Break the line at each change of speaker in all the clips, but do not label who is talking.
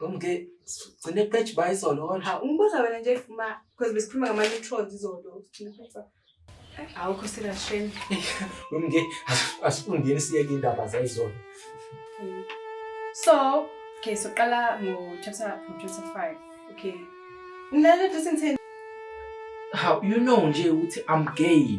Umke gcine page by izolo kodwa. Ha ungibuza wena nje
ifuma because besikhuluma ngama neutrons izolo. Awukho serious shame. Umke
asifundile siye indaba zayizolo. So,
okay, so qala ngo chapter ngo chapter 5. Okay. Ngilale dressing 10. How
you know nje ukuthi I'm gay.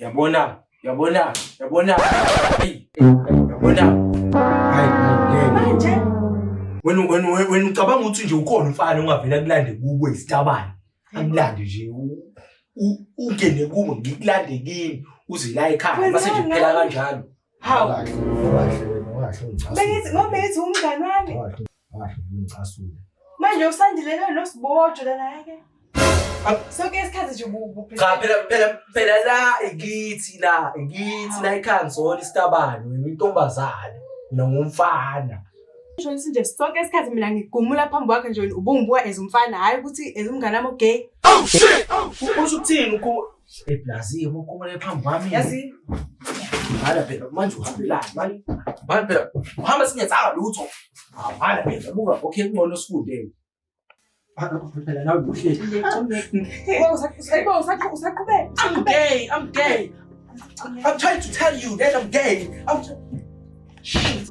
yabona yabona yabona yabona manje
wena wena
wena ucabanga ukuthi nje ukhona umfana ongavela kulande kubo isitabane akulande nje ungene kubo ngikulande kini uze la ekhaya mase nje kuphela kanjalo Hawu.
Kahle,
kahle wena, kahle ungicasule.
Bengithi ngoba bengithi
umngane wami. Kahle, kahle ungicasule.
Manje usandilele lo sibojo lana yake. Sonke isikhathi nje ubuphi. Cha phela phela
phela la ikithi la ikithi la ikhanzona isitabani wena intombazane mina ngumfana. Ngisho ngithi
nje sonke isikhathi mina ngigumula phambi kwakhe nje ubungibuka as umfana hayi ukuthi as umngane wami ogay. Oh
shit! Usho ukuthini ukhu Eblazi ukhumule phambi kwami. Yazi.
Hala
phela manje uhambelani mali? Mali phela uhamba singenzanga lutho. Hala phela buka okay kungcono sifunde. Phela nawe buhle. I'm gay, I'm gay. I'm trying to tell you
that I'm
gay. I'm Shit.